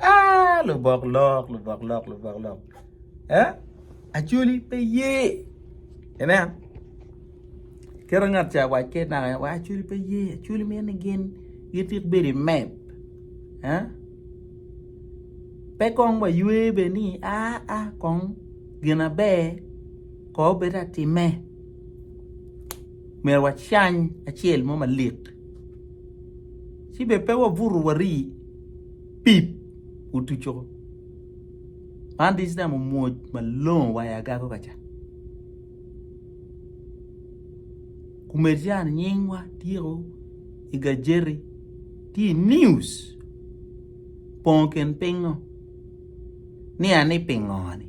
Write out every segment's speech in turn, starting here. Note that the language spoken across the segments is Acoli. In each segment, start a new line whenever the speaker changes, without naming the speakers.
Aah lubok lok lubok lok lubok lok eeh acholi pe ye ineno kit ma ngat ca owac ki naka en waco acholi pe ye acholi mito ni gin gitit bedo i map eeh pe kong waywe bene ni aa kong gin maber kong obed atime. Myero wacany acel mo malik, ci bene pe wabutu wari pip otuco. Man this time omwoc malongo wa i agago ka ca. Kumed ca ni nyingwa tyeko i gajeti, tye i news, pongo kin pingngo. Nia ni pingo-ni?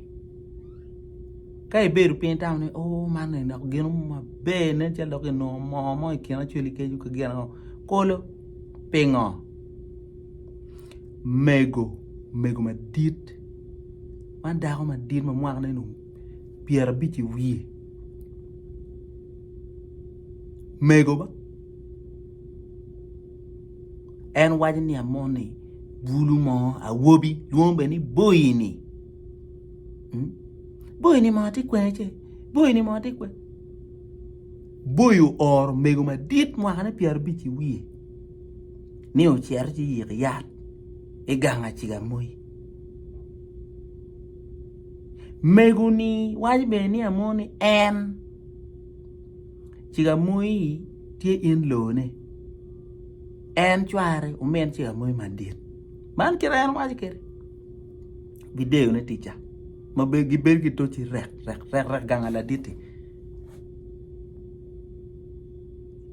Ka ibedo piny itamo ni o man eni dok gino mo maber nen calo dok inongo moo mo i kin acwali ki acuwal ki gin ango kolo pingo? Mego mego madit man dako madit ma mwakne dong pyerabic i wiye mego ba En waco ni amoni bulu mo awobi lwongo bene ni boyini hmm? boyini mo tye kwene ce boyini mo tye kwene boyi ooro mego madit mwakane pyerabic i wiye ni ocito ci yik yat i gang aciga moyi mego ni waco bene ni amoni en ciga moyi tye in lone en cware omin ci amoyo madit man kite en waco kede video ne tica ma gibedo ki toci rek rek rek rek ganga laditi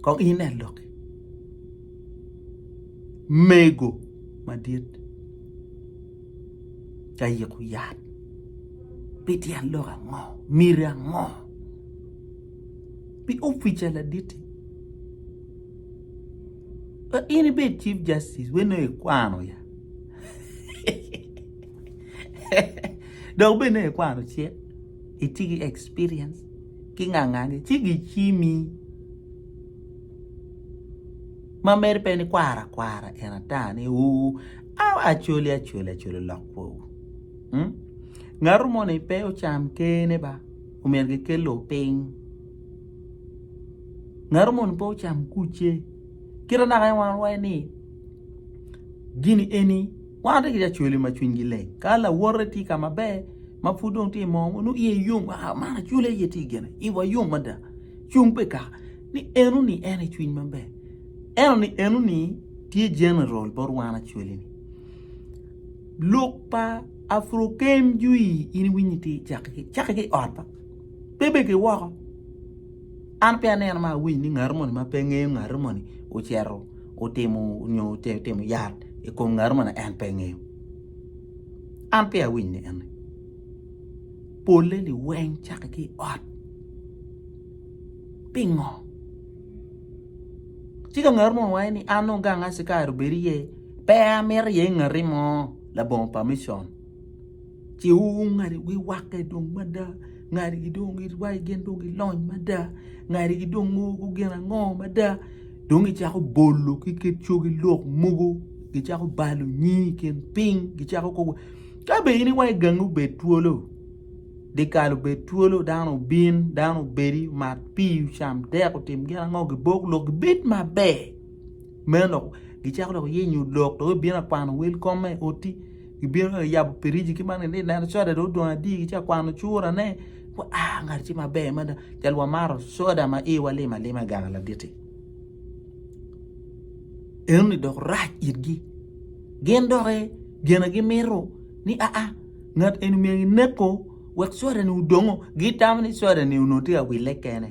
kong ine loki mego madit ka yiko yat pi tyen lok ango miti ango pi opica laditi pe in ibed chief justice weno aye ikwano ya dok bene aye ikwano ce itye ki experience ki ngangane ci gicimi ma mere pe ni kwaro akwara en ata ni uu awa acoli acoli acoli olok kwor ngatu moni pe ocam kene ba. Omyero gikel lok piny. Ngato moni pe ocam kucce. Kit ma naka en wan waco ni gini eni wan watye ki jo cwele ma cwinygi leng ka lawote tye ka maber ma pud dong tye mo ma nongo iye yom aa man acwele aye tye gire iwa yom mada cung pe ikaka ni enoni en aye cwiny maber enoni enoni tye general bot wan acwele-ni. Lok pa Afrokem jwi in iwinyi tye cake ki cake ki ot ma pe bene ki woko an pe aneno ma awinyo ni ngato moni ma pe ngeyo ngato moni ocito otimo nyo otimo yat i kom ngato moni en pe ngeyo an peya awiny ni ene pole ni weng cake ki ot pingo ci ka ngato moni waco ni an dong gang aye ci kare obedo iye Pe amito iye ngati mo labongo pa micon. Ci ongadi wi wakke dong mada, ngadigi dong girwayo gin dong gilony mada, ngadigi dong mogo gin ango mada dong gicako bolo ki kit cogi lok mogo gicako balo nying i kin piny gicako koko ka bene in iwaco gangi obed twolo, dyekal obed twolo dano obin dano obedi omat pii ocam dek otim gin ango gibok lok gibed maber. meno dok gicako dok yenyo lok dok gibino ka kwano wel kom ma i ot-ti gibino ka yabo piriji ki man gitye ka neno soda dong odong adi gitye ka kwano curane aa ngat acel maber mada cal wamaro soda ma iwa lim alima i gang ladit-ti enoni dok rac itgi gin doki gin na gimito ni aa ngat eni myero kineko wek sodani odongo gitamo ni sodani onongo tye ka wille kene.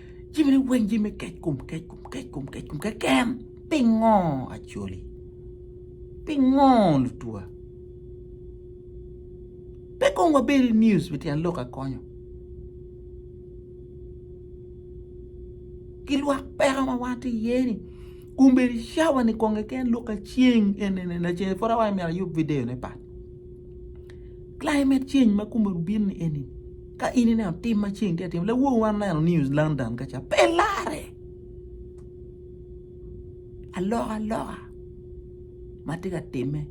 Jimine weng jami me kec kom kec kom kec kom kec kom keken pingo acoli pingo lutwa pe kong wabedo i news pi tyen lok akonyo ki lwak peko ma wan tye iye ni kombeddi cawa ni kong keken lok aceng en en en lacen pud awaco myero ayub video ne pat. Climate change ma kome bino ni eni ka in ineno tim ma ceng tye ka timone, lawono wan oneno New London kaca pe larre alokaloka ma tye ka timme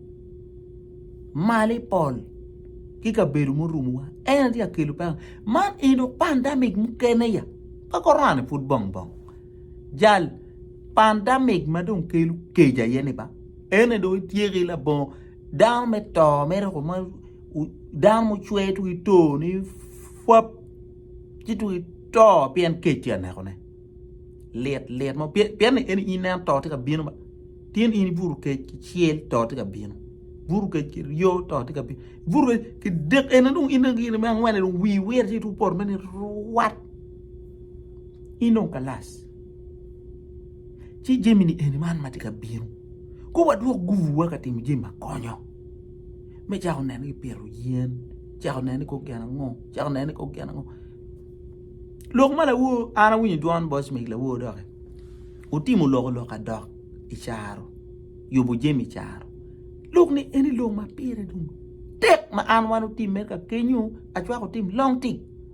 malo i pol ki kabedo murumowa en aye tye ka kelo peko man eno pandemic mukene ya pe korona-ni pud bong bong jal pandemic ma dong kelo kec aye-ni ba en aye dong ityeko ki labongo. Dano me to mere koma dano mucwer twero to ni pwap ci twero to pien kec tye ka neko ne lit lit mo pien ni en in to tye ka bino tye ni in ibuto kec ki cel to tye ka bino ibuto kec ki ryo to tye ka bino ibuto kec ki dek ene dong in dong gin me angwen dong wii wire ci twero poto mere ni rwat in dong kalas. ci jami-ni eni man ma tye ka bino kong wadwok guruwa ka timo jami ma konyo me cako neno ki pito yen cako neno ni kong gin ango cako neno ni kong gin ango lok ma lawo an awinyo dwon boss meg lawo dok-ki otimo lok lok adok i caro yubo jami i caro lok ni eni lok ma pire dong tek ma an wan otimme ka kenyo acwako otim long tim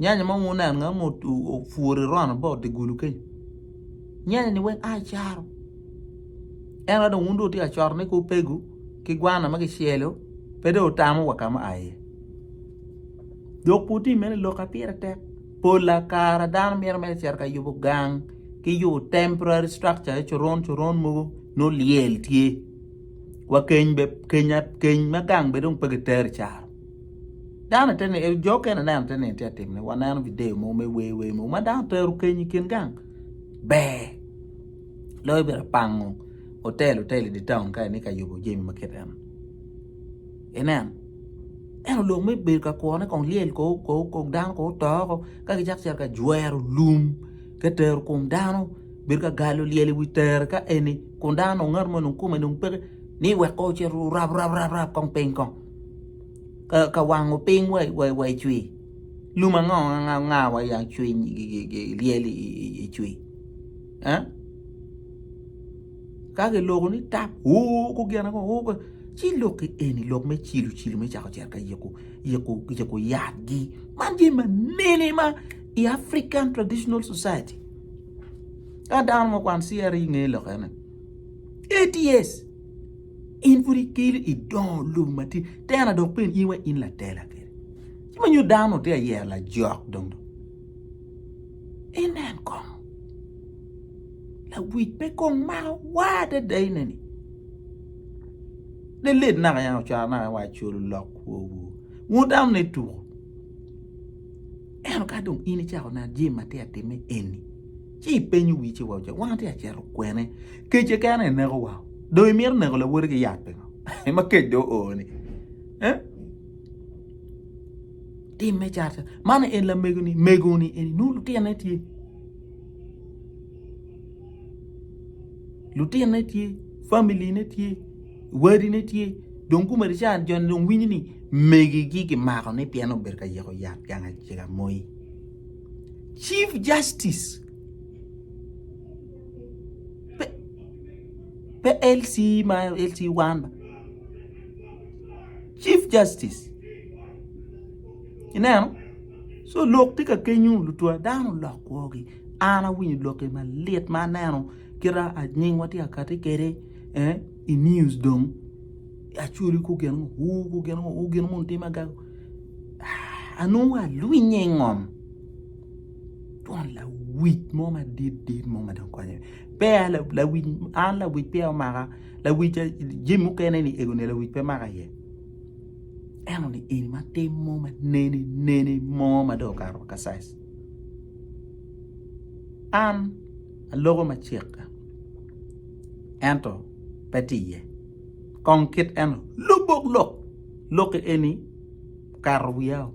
Nyanya mo wuneno nga mo opwure rono ba odi gulu keny. Nyanya ni weng ai caro. En wado wun do tia choro ni ku pegu ki gwana ma kicelo pede otamo wa kama ai. Dok puti mene lok apire tek. Pola kara dano miro me cero ka yubo gang ki yubo temporary structure e coron coron mogo no liel tye. Wa keny be keny ma gang be dong pegi teri caro. Dano te neno, jo okene neno te neno tye atim ne, waneno video mo me wer wer mo ma dano tero kenyi kin gang. Ber. Loyo bedo pango hotel hotel i town ka ni ka yubo jemi ma kit en. Inen. Eno lok me bedo ka kwone kong lyel ko ko ko dano ko toko ka ki chak cer ka jwero lum ke tero kom dano bedo ka galo lyel i wi tere ka eni kun dano ngat mo nung kume nung peke ni wek ko cer rab rab rab rab kong piny kong. ka wango piny wa i cwii lum ango anga ma yag cwiny lyel i cwii eh ka kiloko ni tap oo ko gin ango oo ci lok eni lok me cilo cilo me cako cito ka yiko yat gi man jami manene ma i African traditional society ka dano ma kwan CRE nge lok ene eighty years In pud ikelo i dongo lobo matin, tena dok pen in wa in latela kede. Ci ma nyo dano te ayero lajok dong dong. Inen kong. Lawic pe kong mako wa adada ineni. Lelet naka yan ocwaro naka wa colo lok kwowu. Wun dano ne tuko. Ento ka dong in icako neno jami ma tye ka timme eni ci ipenyo wii ci iwaco wan watye ka cito kwene? Kec keken aye nekowa dong imito neko lawoti ki yat pingo ma kec dong ooni ee timme cat cat man en lamegoni megoni eni nongo lutinone tye lutinone tye family ne tye. Wadine tye, dong kumene ca joni dong winyo ni megigi kimako ni pien obedo ka yeko yat gang acega moi. Chief Justice pe, pe LC ma LC Wanba. Chief Justice. Ineno? So lok tye ka kenyo lutwa dano olok kwogi. An awinyo lokke malit ma aneno kita anyingwa tye akati kede. Eh, i news dong. Achuri ku gin ngo, wu ku gin ngo, wu gin mun tim agago. Ah, anongo alwinye i ngom. Twon lawic mo madit dit mo ma dong konye. Pe a la- lawic, an lawic pe omaka. Lawic a- jami mukene ni ego ni lawic pe maka iye. Eno ni eni ma tim mo ma nene nene mo ma dong okato ka size. An aloko ma cikke ento pe tiye kong kit eno lubok lok lokke eni kato wiyao.